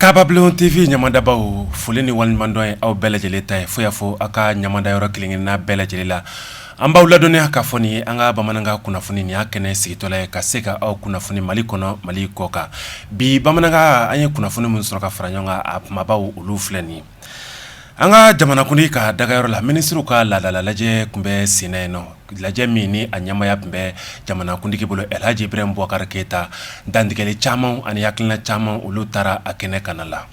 Kabablon TV ɲamadabaw foli ni waleɲumandɔn ye aw bɛɛ lajɛlen ta ye fo y'a fɔ aw ka ɲamada yɔrɔ kelenkelenna bɛɛ lajɛlen la an b'aw ladɔnniya k'a fɔ nin ye an ka bamanankan kunnafoni ni y'a kɛnɛ sigitɔla ye ka se ka aw kunnafoni mali kɔnɔ mali kɔkan bi bamanankan an ye kunnafoni min sɔrɔ ka fara ɲɔgɔn kan a kumabaw olu filɛ nin ye An ka jamanakuntigi ka dagayɔrɔ la minisiriw ka laadala lajɛ tun bɛ sen na yen nɔ lajɛ min ni a ɲɛmaya tun bɛ jamanakuntigi bolo alihaji ibrahim bubakari keyita dantigɛli caman ani hakilina caman olu taara a kɛnɛ kan a la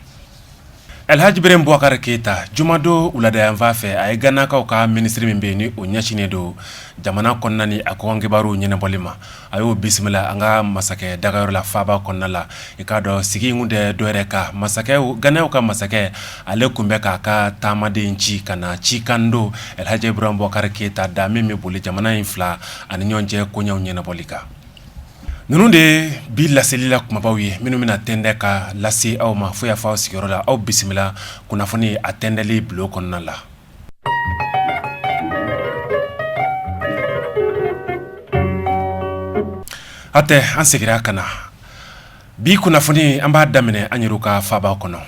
alihaji ibrahim bubakari keyita jumadon wuladayanfan fɛ a ye ganakaw ka minisiri min bɛ yen ni o ɲɛsinnen don jamana kɔnɔna ni a kɔkan kibaruw ɲɛnabɔli ma a y'o bisimila an ka masakɛ dagayɔrɔ la faba kɔnɔna la i k'a dɔn sigi kun tɛ dɔwɛrɛ kan masakɛ ganeyɛnw ka masakɛ ale tun bɛ k'a ka taamaden ci ka na cikan don alihaji ibrahim bubakari keyita da min bɛ boli jamana in fila ani ɲɔgɔn cɛ koɲɛw ɲɛnabɔli kan ninnu de ye bi laselila kumabaw ye minnu bɛna tɛndɛ ka lase aw ma fo y'a fɔ aw sigiyɔrɔ la aw bisimila kunnafoni a tɛndɛli bulon kɔnɔna la Hatɛ an segira ka na bi kunnafoni an b'a daminɛ an yɛrɛ ka faba kɔnɔ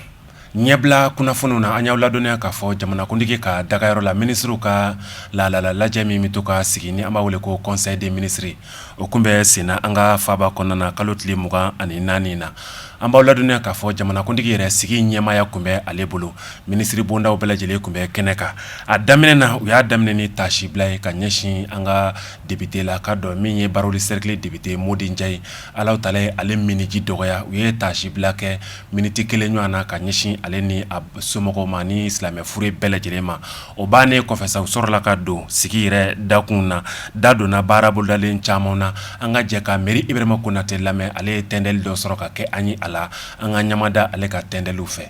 ɲɛbila kunnafoniw na an y'aw ladɔnniya k'a fɔ jamanakuntigi ka dagayɔrɔ la minisiriw ka laadala lajɛ min bɛ to ka sigi ni an b'a wele ko conseil des ministres O tun bɛ sen na an ka faba kɔnɔna na kalo tile mugan ani naani na an b'aw ladɔnniya k'a fɔ jamanakuntigi yɛrɛ sigi ɲɛmaaya tun bɛ ale bolo minisiribondaw bɛɛ lajɛlen tun bɛ kɛnɛ kan a daminɛ na u y'a daminɛ ni tasibila ye ka ɲɛsin an ka depite lakodɔn min ye baraweli sɛrikili depite modi njayi ala taala ye ale miniji dɔgɔya u ye tasibila kɛ miniti kelen ɲɔgɔn na ka ɲɛsin ale ni a somɔgɔw ma ni silamɛ fure bɛɛ lajɛlen ma O bannen kɔfɛ sa u sɔrɔla ka don sigi yɛrɛ dakun na da donna baara bolodalen caman na an ka jɛ ka miiri ibrahima konatɛ lamɛn ale ye tɛndɛli dɔ sɔrɔ ka kɛ an ye a la an ka ɲamada ale ka tɛndɛliw fɛ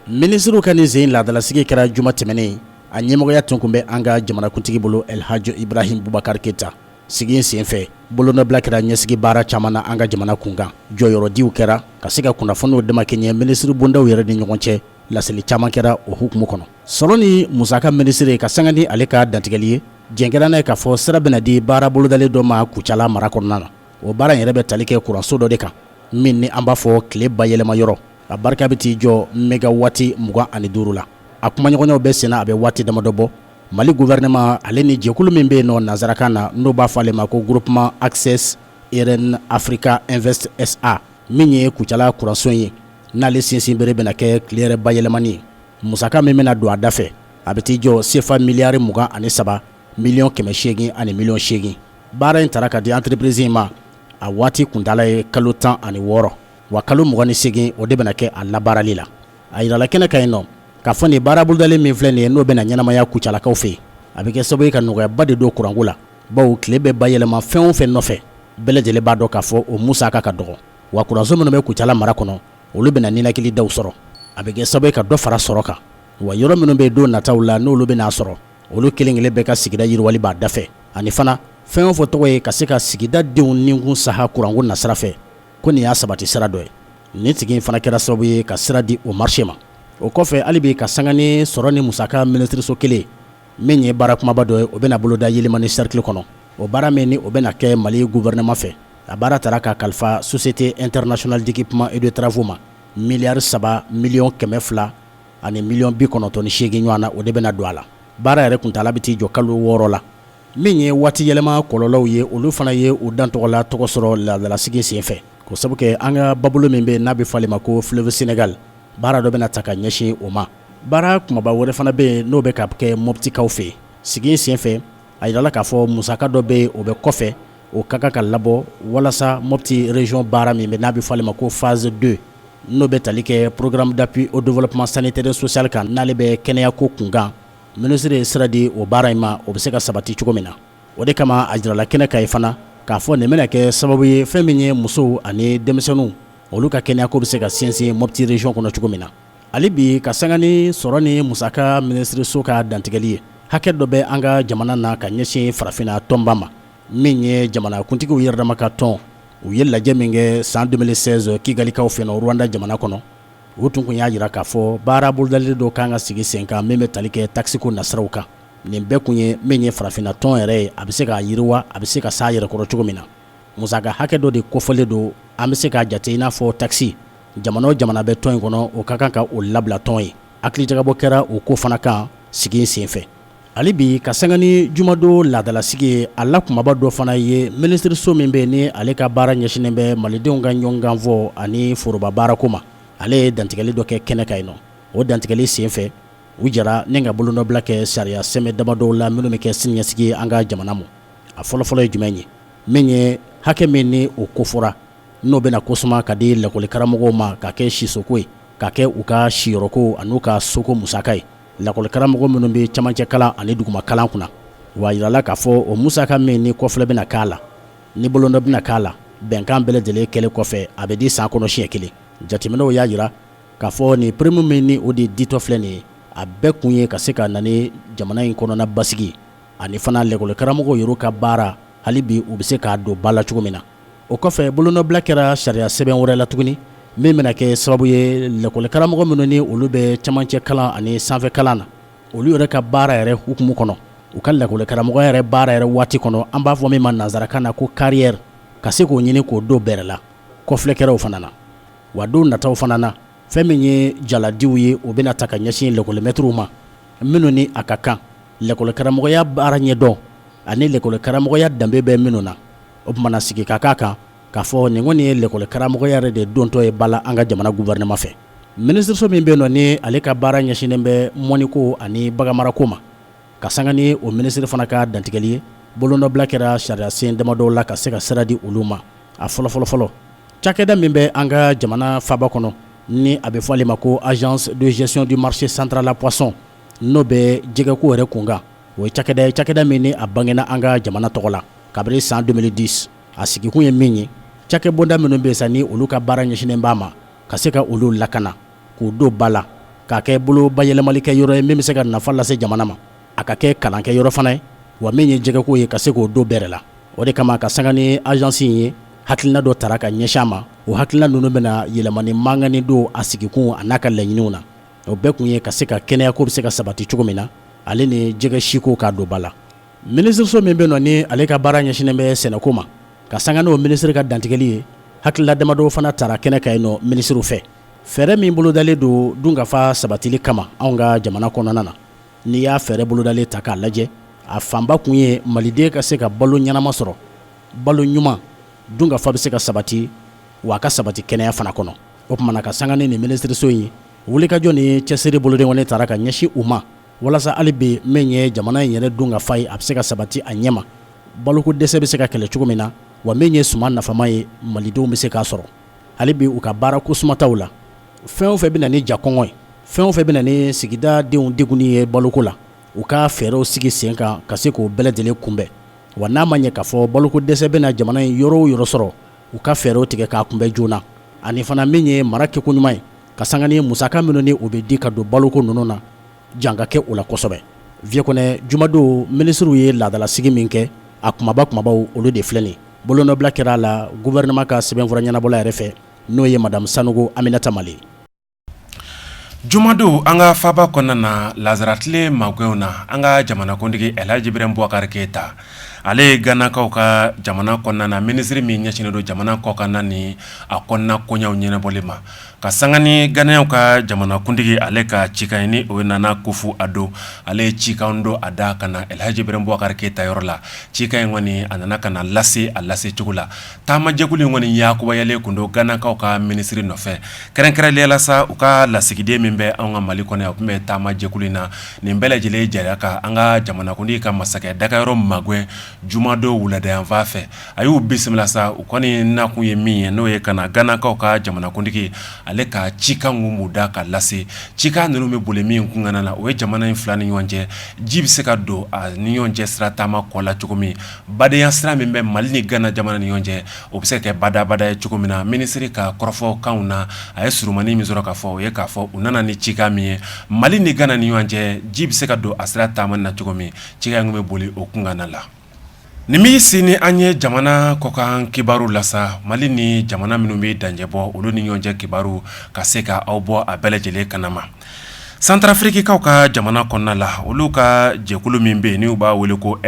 minisiriw ka nin sen laadalasigi kɛra juma tɛmɛnen a ɲɛmɔgɔya tun kun bɛ an ka jamanakuntigi bolo alihaji ibrahim bubakari keyita sigi in senfɛ bolonɔbila kɛra ɲɛsigi baara caman na an ka jamana kunkan jɔyɔrɔdiw kɛra ka se ka kunnafoniw damakɛɲɛ minisiribondaw yɛrɛ ni ɲɔgɔn cɛ laseli caman kɛra o hukumu kɔnɔ Sɔrɔ ni musaka minisiri ka sanga ni ale ka dantigɛli ye jɛnkɛra n'a ye k'a fɔ sira bɛna di baara bolodalen dɔ ma kucala mara kɔnɔna na o baara yɛrɛ bɛ tali kɛ kuranso dɔ de kan min ni an b'a fɔ tile bayɛlɛma yɔrɔ a barika bɛ t'i jɔ megawati mugan ani duuru la a kumaɲɔgɔnyaw bɛ sen na a bɛ waati damadɔ bɔ mali gouvernement ale ni jɛkulu min bɛ yen nɔ nanzarakan na n'o b'a fɔ ale ma ko groupement Access Eren Africa Invest SA min ye kucala kuranso ye n'ale sinsinbere bɛna kɛ tile yɛrɛ bayɛlɛmani ye Musaka min bɛna don a da fɛ a bɛ t'i jɔ sefa miliyari mugan ani saba miliyɔn kɛmɛ seegin ani miliyɔn seegin baara in taara ka di entreprise in ma a waati kuntaala ye kalo tan ani wɔɔrɔ wa kalo mugan ni seegin o de bɛna kɛ a labaarali la a jirala kɛnɛ kan yen nɔ k'a fɔ nin baara bolodalen min filɛ nin ye n'o bɛna ɲɛnamaya Kucalakaw fɛ yen a bɛ kɛ sababu ye ka nɔgɔyaba de don kuranko la bawo tile bɛ bayɛlɛma fɛn o fɛn nɔfɛ bɛɛ lajɛlen b'a dɔn k'a fɔ o musaka ka dɔgɔ wa kuranso minnu bɛ Kucala mara kɔnɔ olu bɛna ninakilidaw sɔrɔ a bɛ kɛ sababu ka dɔ fara sɔrɔ kan wa yɔrɔ minnu bɛ don nataw la n'olu bɛna a sɔrɔ olu kelen kelen bɛɛ ka sigida yiriwali b'a da fɛ ani fana fɛn o fɛn tɔgɔ ye ka se ka sigida denw ninkun saha kuranko nasira fɛ ko nin y'a sabati sira dɔ ye nin tigi in fana kɛra sababu ye ka sira di o marché ma o kɔfɛ hali bi ka sanga ni sɔrɔ ni musaka minisiriso kelen min ye baara kumaba dɔ ye o bɛna boloda Yelimani cercle kɔnɔ o baara min ni o bɛna kɛ Mali gouvernement fɛ a baara taara ka kalifa Société internationale d'équipement et de travaux ma miliyari saba miliyɔn kɛmɛ fila ani miliyɔn bi kɔnɔntɔn ni seegin ɲɔgɔn na o de bɛna don a la baara yɛrɛ kuntaala bɛ t'i jɔ kalo wɔɔrɔ la min ye waati yɛlɛma kɔlɔlɔw ye olu fana ye u dan tɔgɔ la tɔgɔ sɔrɔ laadalasigi senfɛ k'o sabu kɛ an ka babolo min bɛ n'a bɛ fɔ ale ma ko fleuve Sénégal baara dɔ bɛna ta ka ɲɛsin o ma baara kumaba wɛrɛ fana bɛ yen n'o bɛ ka kɛ Moptikaw fɛ sigi senfɛ a jirala k'a fɔ musaka dɔ bɛ yen o bɛ kɔfɛ o ka kan ka labɔ walasa Mopti région baara min bɛ n'a bɛ fɔ ale ma ko phase deux n'o bɛ tali kɛ programme d'appui au développement sanitaire et social kan n'ale bɛ kɛnɛyako kunkan minisiri ye sira di o baara in ma o bɛ se ka sabati cogo min na o de kama a jirala kɛnɛ kan yen fana k'a fɔ nin bɛna kɛ sababu ye fɛn min ye musow ani denmisɛnninw olu ka kɛnɛyako bɛ se ka sinsin Mopti région kɔnɔ cogo min na Hali bi ka sanga ni sɔrɔ ni musaka minisiriso ka dantigɛli ye hakɛ dɔ bɛ an ka jamana na ka ɲɛsin farafinna tɔnba ma min ye jamanakuntigiw yɛrɛdama ka tɔn u ye lajɛ min kɛ san 2016 Kigalikaw fɛ yen Rwanda jamana kɔnɔ u tun kun y'a jira k'a fɔ baara bolodalen dɔ kan ka sigi sen kan min bɛ tali kɛ taxe ko nasiraw kan nin bɛɛ kun ye min ye farafinna tɔn yɛrɛ ye a bɛ se k'a yiriwa a bɛ se ka s'a yɛrɛkɔrɔ cogo min na musaka hakɛ dɔ de kofɔlen don an bɛ se k'a jate i n'a fɔ taxe jamana o jamana bɛ tɔn in kɔnɔ o ka kan ka o labila tɔn ye hakilijagabɔ kɛra o ko fana kan sigi senfɛ hali bi ka sanga ni jumadon laadalasigi ye a la kumaba dɔ fana ye minisiriso min bɛ ni ale ka baara ɲɛsinnen bɛ malidenw ka ɲɔgɔnkanfɔ ani forobabaarako ma ale ye dantigɛli dɔ kɛ kɛnɛ kan yen nɔ o dantigɛli senfɛ u jɛra ni ka bolonɔbila kɛ sariya sɛbɛn damadɔw la minnu bɛ kɛ siniɲɛsigi ye an ka jamana ma a fɔlɔfɔlɔ ye jumɛn ye min ye hakɛ min ni o kofɔra n'o bɛna ko suma ka di lakɔlikaramɔgɔw ma ka kɛ sisoko ye ka kɛ u ka siyɔrɔko an'u ka soko musaka ye lakɔlikaramɔgɔ minnu bɛ camancɛ kalan ani duguma kalan kunna wa jirala k'a fɔ o musaka min ni kɔfilɛ bɛna k'a la ni bolonɔ bɛna k'a la bɛnkan bɛɛ lajɛlen kɛlen kɔfɛ a bɛ di san kɔnɔ siɲɛ kelen jateminɛw y'a jira k'a fɔ nin prime min ni o de ditɔ filɛ nin ye a bɛɛ kun ye ka se ka na ni jamana in kɔnɔna basigi ani fana lakɔlikaramɔgɔw yɛrɛ ka baara hali bi u bɛ se k'a don ba la cogo min na o kɔfɛ bolonɔbila kɛra sariya sɛbɛn wɛrɛ la tuguni min bɛna kɛ sababu ye lakɔlikaramɔgɔ minnu ni olu bɛ camancɛ kalan ani sanfɛ kalan na olu yɛrɛ ka baara yɛrɛ hukumu kɔnɔ u ka lakɔlikaramɔgɔya yɛrɛ baara yɛrɛ waati kɔnɔ an b'a fɔ min ma nansarakan na ko carrière ka se k'o ɲini k'o don bɛrɛ la kɔfilɛkɛlaw fana na wa don nataw fana na fɛn min ye jaladiw ye o bɛna ta ka ɲɛsin lakɔlimɛtiriw ma minnu ni a ka kan lakɔlikaramɔgɔya baara ɲɛdɔn ani lakɔlikaramɔgɔya danbe bɛ minnu na o tuma na sigi ka k'a kan k'a fɔ nin kɔni ye lakɔlikaramɔgɔya yɛrɛ de dontɔ ye ba la an ka jamana gouvernement fɛ minisiriso min bɛ nɔ ni ale ka baara ɲɛsinnen bɛ mɔniko ani baganmarako ma ka sanga ni o minisiri fana ka dantigɛli ye bolonɔbila kɛra sariya sen damadɔ la ka se ka sira di olu ma a fɔlɔ fɔlɔ fɔlɔ cakɛda min bɛ an ka jamana faaba kɔnɔ ni a bɛ fɔ ale ma ko agence de gestion du marché central à poisson n'o bɛ jɛgɛko yɛrɛ kunkan o ye cakɛda ye cakɛda min ni a bangena an ka jamana tɔgɔ la kabini san deux mille dix a sigikun ye min ye cakɛbonda minnu bɛ sa ni olu ka baara ɲɛsinnen b'a ma ka se ka olu lakana k'u don ba la k'a kɛ bolo bayɛlɛmalikɛyɔrɔ ye min bɛ se ka nafa lase jamana ma a ka kɛ kalankɛ yɔrɔ fana ye wa min ye jɛgɛko ye ka se k'o don bɛrɛ la o de kama ka sanga ni agence in ye hakilina dɔ tara ka ɲɛsin a ma o hakilina ninnu bɛna yɛlɛmani mankanni don a sigikunw an'a ka laɲiniw na o bɛɛ kun ye ka se ka kɛnɛyako bɛ se ka sabati cogo min na ale ni jɛgɛ siko k'a don ba la Minisiriso min bɛ nɔ ni ale ka baara ɲɛsinnen bɛ sɛnɛko ma ka sanga n'o minisiri ka dantigɛli ye hakilina damadɔ fana tara kɛnɛ kan yen nɔ minisiriw fɛ fɛɛrɛ min bolodalen don dunkafa sabatili kama anw ka jamana kɔnɔna na n'i y'a fɛɛrɛ bolodalen ta k'a lajɛ a fanba kun ye maliden ka se ka balo ɲɛnama sɔrɔ balo ɲuman dunkafa bɛ se ka sabati wa a ka sabati kɛnɛya fana kɔnɔ o tuma na ka sanga ni minisiriso in ye wulikajɔ ni cɛsiri boloden kɔni tara ka ɲɛsin u ma walasa hali bi min ye jamana in yɛrɛ dunkafa ye a bɛ se ka sabati a ɲɛma baloko dɛsɛ bɛ se ka kɛlɛ cogo min na wa min ye suman nafama ye malidenw bɛ se k'a sɔrɔ hali bi u ka baara ko sumataw la fɛn o fɛn bɛ na ni ja kɔngɔ ye fɛn o fɛn bɛ na ni sigida denw degunni ye baloko la u ka fɛɛrɛw sigi sen kan ka se k'o bɛɛ lajɛlen kunbɛn wa n'a ma ɲɛ k'a fɔ baloko dɛsɛ bɛ na jamana in yɔrɔ o yɔrɔ sɔrɔ u ka fɛɛrɛw tigɛ k'a kunbɛn joona ani fana min ye mara kɛko ɲuman ye ka sanga ni musaka minnu ni o bɛ di ka don baloko ninnu na jan ka kɛ o la kosɛbɛ viye kɔnɛ jumadon minisiriw ye laadalasigi min kɛ a kumaba kumabaw olu de filɛ nin bolonɔbila kɛra a la gɔfɛrɛnaman ka sɛbɛnfura ɲɛnabɔla yɛrɛ fɛ n'o ye madamu sanogo aminata male jumadon an ka faaba kɔnɔna na lazara tile magɛnw na an ka jamanakuntigi alaji iburahima bubakari keyita ale ye ganakaw ka jamana kɔnɔna na minisiri min ɲɛsinnen don jamana kɔkanna ni a kɔnɔna koɲaw ɲɛnabɔli ma ka sanga ni ganakaw ka jamanakuntigi ale ka cikan ni o nana akufo ado ale ye cikan don a da ka na alihaji iburahima bubakari keyita yɔrɔ la cikan in kɔni a nana ka lase a lase cogo la taamajɛkulu in kɔni yakubayalen tun don ganakaw ka minisiri nɔfɛ kɛrɛnkɛrɛnnenya la sa u ka lasigiden min bɛ an ka mali kɔnɔ o tun bɛ taamajɛkulu in na nin bɛɛ lajɛlen jɛra ka an ka jamanakuntigi ka masakɛ dagayɔrɔ magɛn jumadon wuladayanfan fɛ a y'u bisimila sa u kɔni nakun ye min ye n'o ye ka na ganakaw ka jamanakuntigi ale ka cikan mun da ka lase cikan ninnu bɛ boli min kunkan na o ye jamana in fila ni ɲɔgɔn cɛ ji bɛ se ka don a ni ɲɔgɔn cɛ sira taamako la cogo min badenya sira min bɛ mali ni gana jamana ni ɲɔgɔn cɛ o bɛ se ka kɛ badabada ye cogo min na minisiri ka kɔrɔfɔkan na a ye surunmani min sɔrɔ k'a fɔ o ye k'a fɔ u nana ni cikan min ye mali ni gana ni ɲɔgɔn cɛ ji bɛ se ka don a sira taama na cogo min cikan bɛ boli o kunkan la Nin min sen an ye jamana kɔkan kibaru la sa mali ni jamana minnu bɛ danjɛbɔ olu ni ɲɔgɔn cɛ kibaru ka se ka aw bɔ a bɛɛ lajɛlen kanma santarafirikikaw ka jamana kɔnɔna la olu ka jɛkulu min bɛ yen n'u b'a wele ko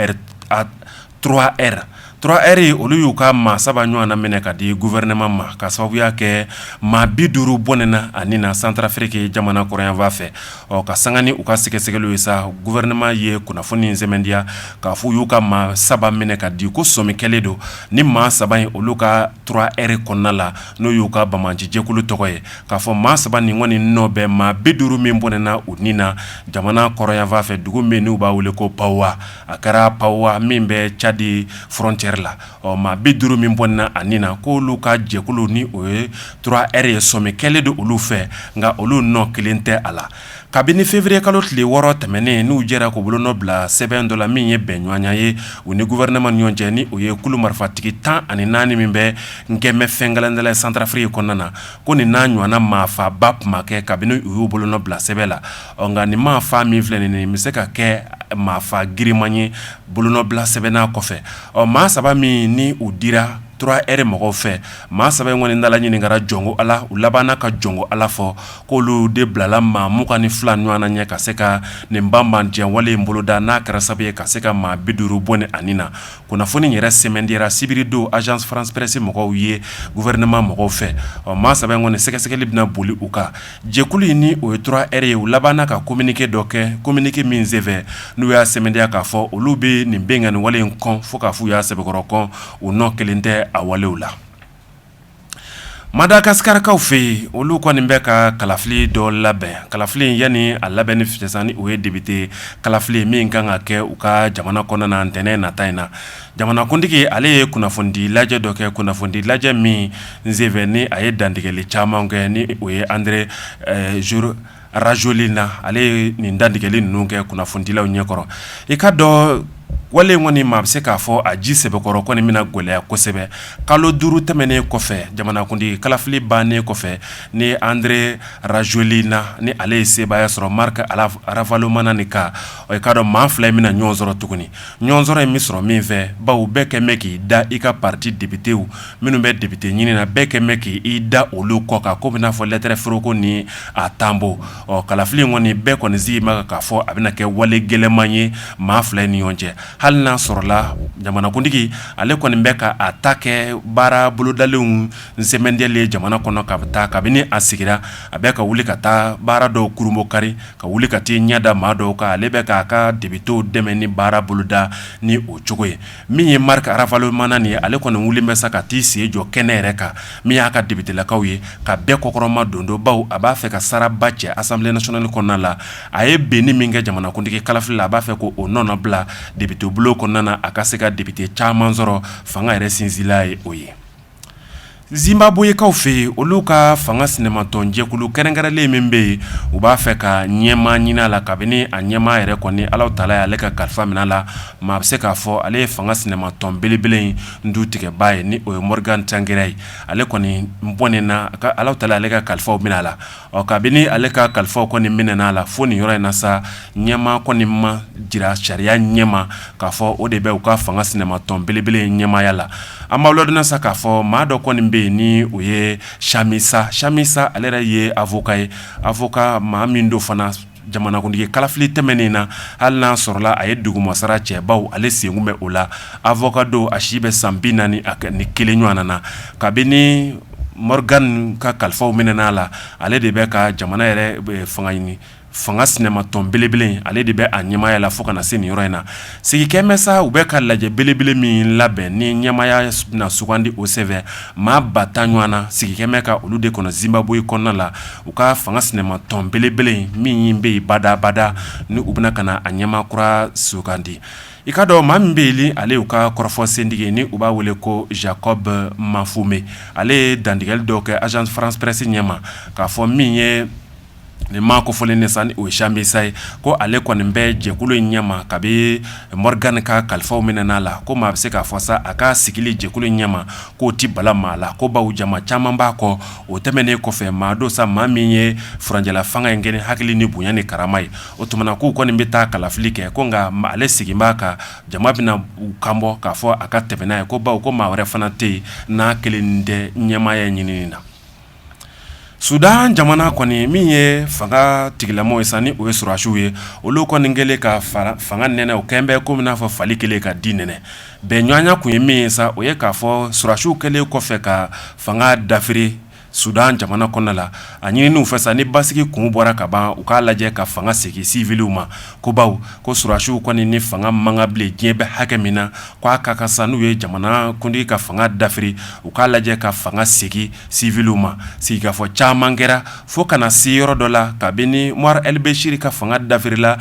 turuwa ɛri turuwa ɛri olu y'u ka maa saba ɲɔgɔn na minɛ ka di gɔfɛrɛnaman ma ka sababuya kɛ maa bi duuru bɔnɛna a ni na santarafiriki jamana kɔrɔnyanfan fɛ Ɔ ka sanga ni u ka sɛgɛsɛgɛliw ye sa gɔfɛrɛnaman ye kunnafoni in sɛmɛntiya k'a fɔ u y'u ka maa saba minɛ ka di ko sɔmi kɛlen don ni maa saba in olu ka turuwa ɛri kɔnɔna la n'o y'u ka banbaanci jɛkulu tɔgɔ ye k'a fɔ maa saba nin kɔni nɔ bɛ maa bi duuru min bɔnɛna u ni na jamana kɔrɔnyanfan fɛ dugu min n'u b'a wele ko pawa a kɛra pawa min bɛ cadi fɔrɔntiyɛri la ɔ maa bi duuru min bɔnɛna a ni na ko olu ka jɛkulu ni o ye turuwa ɛri ye sɔmi kɛlen don olu fɛ nka olu nɔ kelen tɛ a la kabini feburuye kalo tile wɔɔrɔ tɛmɛnen n'u jɛra k'u bolonɔ bila sɛbɛn dɔ la min ye bɛn ɲɔgɔnya ye u ni gɔfɛrɛnaman ni ɲɔgɔn cɛ ni o ye kulu marifatigi tan ani naani min bɛ n gɛnmɛ fɛn kelen santarafiriki kɔnɔna na ko nin n'a ɲɔgɔnna maafaaba tun ma kɛ kabini u y'u bolonɔ bila sɛbɛn la ɔ nka nin maafaa min filɛ nin bɛ se ka kɛ maafaa girinman ye bolonɔ bila sɛbɛn na kɔfɛ Ɔ maa saba min ni u dira trois R mɔgɔw fɛ maa saba in kɔni dala ɲininkara jɔnko ala u labanna ka jɔnko ala fɔ k'olu de bilala maa mugan ni fila ɲɔgɔn na ɲɛ ka se ka nin banbanciya wale in boloda n'a kɛra sababu ye ka se ka maa bi duuru bɔnɛ a ni na kunnafoni yɛrɛ sɛmɛntiyara sibiridon Agence France Presse mɔgɔw ye gouvernement mɔgɔw fɛ ɔ maa saba in kɔni sɛgɛsɛgɛli bɛna boli u kan Jɛkulu in ni o ye trois R ye u labanna ka communiqué dɔ kɛ communiqué min senfɛ n'u y'a sɛmɛntiya k'a fɔ olu bɛ nin binkanni wale in kɔn fo k'a fɔ u y'a sɛbɛkɔrɔ kɔn u nɔ kelen tɛ a walew la Madagasikarikaw fɛ yen olu kɔni bɛ ka kalafili dɔ labɛn kalafili in yani a labɛn ni fitɛsan ni o ye depite kalafili min kan ka kɛ u ka jamana kɔnɔna na ntɛnɛn nata in na Jamanakuntigi ale ye kunnafonidi lajɛ dɔ kɛ kunnafonidi lajɛ min senfɛ ni a ye dantigɛli caman kɛ ni o ye Andry Rajoelina ale ye nin dantigɛli ninnu kɛ kunnafonidilaw ɲɛkɔrɔ i k'a dɔn wale in kɔni maa bɛ se k'a fɔ a ji sɛbɛkɔrɔ kɔni bɛna gɛlɛya kosɛbɛ kalo duuru tɛmɛnen kɔfɛ jamanakuntigi kalafili bannen kɔfɛ ni Andry Rajoelina ni ale ye sebaaya sɔrɔ Ravalomanana kan o ye k'a dɔn maa fila in bɛna na ɲɔgɔn sɔrɔ tuguni ɲɔgɔnsɔrɔ in bɛ sɔrɔ min fɛ bawo bɛɛ kɛlen bɛ k'i da i ka pati depitew minnu bɛ depite ɲini na bɛɛ kɛlen bɛ k' i da olu kɔ kan ko bɛna fɔ lɛtɛrɛ foroko ni a tampon ɔ kalafili in kɔni bɛɛ kɔni sigi ma k'a fɔ a bɛna kɛ wale gɛlɛnman ye maa fila ni ɲɔgɔn cɛ hali n'a sɔrɔla jamanakuntigi ale kɔni bɛ ka a ta kɛ baara bolodalenw sɛmɛntiyali ye jamana kɔnɔ ka taa kabini a sigira a bɛ ka wuli ka taa baara dɔw kurunbonkari ka wuli ka t'i ɲɛda maa dɔw kan ale bɛ k'a ka depitew dɛmɛ ni baara boloda ni o cogo ye min ye Marc Ravalomanana ye ale kɔni wuli bɛ sa ka t'i sen jɔ kɛnɛ yɛrɛ kan min y'a ka depitelakaw ye ka bɛɛ kɔkɔrɔmadondon bawo a b'a fɛ ka saraba cɛ Assemblée nationale kɔnɔna la a ye binni min kɛ jamanakuntigi kalafili la a b'a fɛ k'o nɔnɔbila depitebulon kɔnɔna na a ka se ka depite caman sɔrɔ fanga yɛrɛ sinsinla ye o ye Zimbabwekaw fɛ yen olu ka fanga sinamatɔn jɛkulu kɛrɛnkɛrɛnlen min bɛ yen u b'a fɛ ka ɲɛmaa ɲini a la kabini a ɲɛmaa yɛrɛ kɔni Ala taala y'ale ka kalifa mina a la maa bɛ se k'a fɔ ale ye fanga sinamatɔn belebele in dutigiba ye ni o ye Morgan Tsvangirai ye ale kɔni bɔnɛna Ala taala y'ale ka kalifaw mina a la Ɔ kabini ale ka kalifaw kɔni minɛna a la fo nin yɔrɔ in na sa ɲɛmaa kɔni ma jira sariya ɲɛma k'a fɔ o de bɛ u ka fanga sinamatɔn belebele in ɲɛmaaya la an b'aw ladɔnniya sa k'a fɔ maa dɔ kɔni bɛ yen ni o ye Chamisa Chamisa ale yɛrɛ ye avocat ye avocat maa min don fana jamanakuntigi kalafili tɛmɛnen na hali n'a sɔrɔla a ye dugumasara cɛ bawo ale sen tun bɛ o la avocat don a si bɛ san bi naani ni kelen ɲɔgɔn na kabini Morgan ka kalifaw minɛna a la ale de bɛ ka jamana yɛrɛ fanga ɲini fanga sinamatɔn belebele ale de bɛ a ɲɛmaaya la fo ka na se nin yɔrɔ in na Sigikɛmɛ sa u bɛ ka lajɛ belebele min labɛn ni ɲɛmaaya bɛna sugandi o sen fɛ maa ba tan ɲɔgɔn na sigikɛmɛ ka olu de kɔnɔ Zimbabwe kɔnɔna la u ka fanga sinamatɔn belebele in min bɛ yen badabada ni u bɛna ka na a ɲɛmaa kura sugandi i k'a dɔn maa min bɛ yen ale y'u ka kɔrɔfɔ sentigi ni u b'a wele ko Jacob Mafume ale ye dantigɛli dɔw kɛ Agence France Presse ɲɛma k'a fɔ min ye nin maa kofɔlen de sa ni o ye Chamisa ye ko ale kɔni bɛ jɛkulu in ɲɛma kabini Morgan ka kalifaw minɛn'a la ko maa bɛ se k'a fɔ sa a ka sigili jɛkulu in ɲɛma k'o tɛ bala maa la ko baw jama caman b'a kɔ o tɛmɛnen kɔfɛ maa don sa maa min ye furancɛla fanga in kɛ ni hakili ni bonya ni karama ye o tuma k'u kɔni bɛ taa kalafili kɛ ko nka ale sigi b'a kan jama bɛna u kan bɔ k'a fɔ a ka tɛmɛ n'a ye ko baw ko maa wɛrɛ fana tɛ yen n'a kelen tɛ ɲɛmaaya ɲinini na Sudan jamana kɔni min ye fanga tigilama ye sa ni o ye sɔrɔdasiw ye olu kɔni kɛlen ka fanga nɛnɛ o kɛlen bɛ kɔmi n'a fɔ fali kɛlen ka di nɛnɛ bɛnɲɔgɔnya tun ye min ye sa o ye k'a fɔ sɔrɔdasiw kɛlen kɔfɛ ka fanga dafiri Sudan jamana kɔnɔna la a ɲinin'u fɛ ni basigi kun bɔra ka ban u k'a lajɛ ka fanga segin siwiliw ma ko baw ko sɔrɔdasiw kɔni ni fanga man kan bilen diɲɛ bɛ hakɛ min na k'a ka kan n'u ye jamanakuntigi ka fanga dafiri u k'a lajɛ ka fanga segin siwiliw ma sigikafɔ caman kɛra fo ka na se yɔrɔ dɔ la kabini Bashir ka fanga dafirila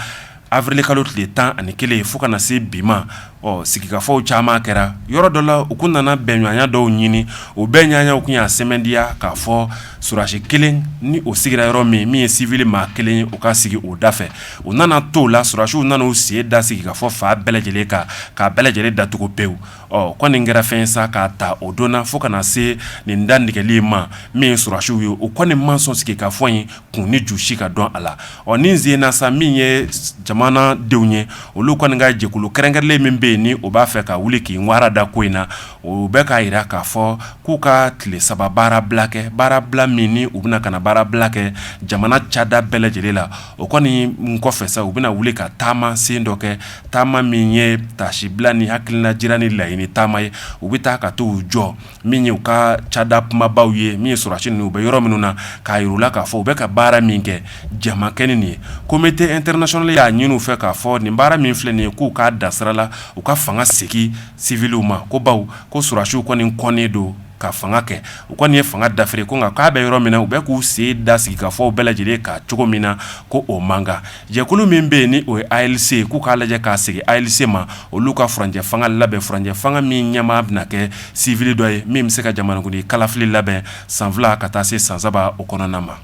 awirili kalo tile tan ani kelen fo ka na se bi ma ɔ sigikafɔw caman kɛra yɔrɔ dɔ la u tun nana bɛnɲɔgɔnya dɔw ɲini o bɛnɲɔgɔnyaw tun y'a sɛmɛntiya k'a fɔ sɔrɔdasi kelen ni o sigira yɔrɔ min min ye siwili maa kelen ye o ka sigi o da fɛ u nana to la sɔrɔdasiw nana u sen da sigikafɔ fan bɛɛ lajɛlen kan k'a bɛɛ lajɛlen datugu pewu ɔ ko nin kɛra fɛn sa k'a ta o don na fo ka na se nin dantigɛli ma min ye sɔrɔdasiw ye u kɔni ma sɔn sigikafɔ in kun ni ju si ka dɔn a la ɔ nin sen na sa min ye jamana denw ye olu kɔni ka jɛkulu kɛrɛnkɛrɛnnen min bɛ yen ni o b'a fɛ ka wuli k'i wara da ko in na o bɛ k'a jira k'a fɔ k'u ka tile saba baara bila kɛ baara bila min u bɛna ka na baara bila kɛ jamana cada bɛɛ lajɛlen la O kɔni kɔfɛ sa u bɛna wuli ka taama sen dɔ kɛ taama min ye taasibila ni hakilila jira ni laɲini taama ye u bɛ taa ka t'u jɔ min ye u ka cada kumabaw ye min ye sɔrɔdasi ninnu u bɛ yɔrɔ minnu na k'a yir'u la k'a fɔ u bɛ ka baara min kɛ jamakɛ nin ye comité international y'a ɲini u fɛ k'a fɔ nin baara min filɛ nin ye k'u k'a da sira la u ka fanga segin siwiliw ma ko baw ko sɔrɔdasiw kɔni kɔnnen don ka fanga kɛ u kɔni ye fanga dafiri ko nka k'a bɛ yɔrɔ min na u bɛ k'u sen da sigikafɔw bɛɛ lajɛlen kan cogo min na ko o man kan jɛkulu min bɛ yen ni o ye ALC ye k'u k'a lajɛ k'a segin ALC ma olu ka furancɛ fanga labɛn furancɛ fanga min ɲɛmaa bɛna kɛ siwili dɔ ye min bɛ se ka jamanakuntigi kalafili labɛn san fila ka taa se san saba o kɔnɔna ma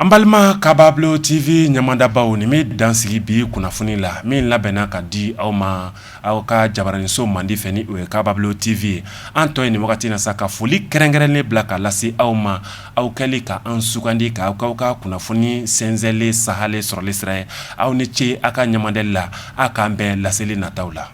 An balima Kabablo TV ɲamadabaw nin bɛ dansigi bi kunnafoni la min labɛnna ka di aw ma aw ka jabaraniso mandi fɛ ni o ye Kabablo TV ye an tɔ ye nin wagati na sa ka foli kɛrɛnkɛrɛnnen bila ka lase aw ma aw kɛli ka an sugandi ka k'aw ka kunnafoni sɛnsɛnlen sahalen sɔrɔli sira ye aw ni ce aw ka ɲamadali la aw k'an bɛn laseli nataw la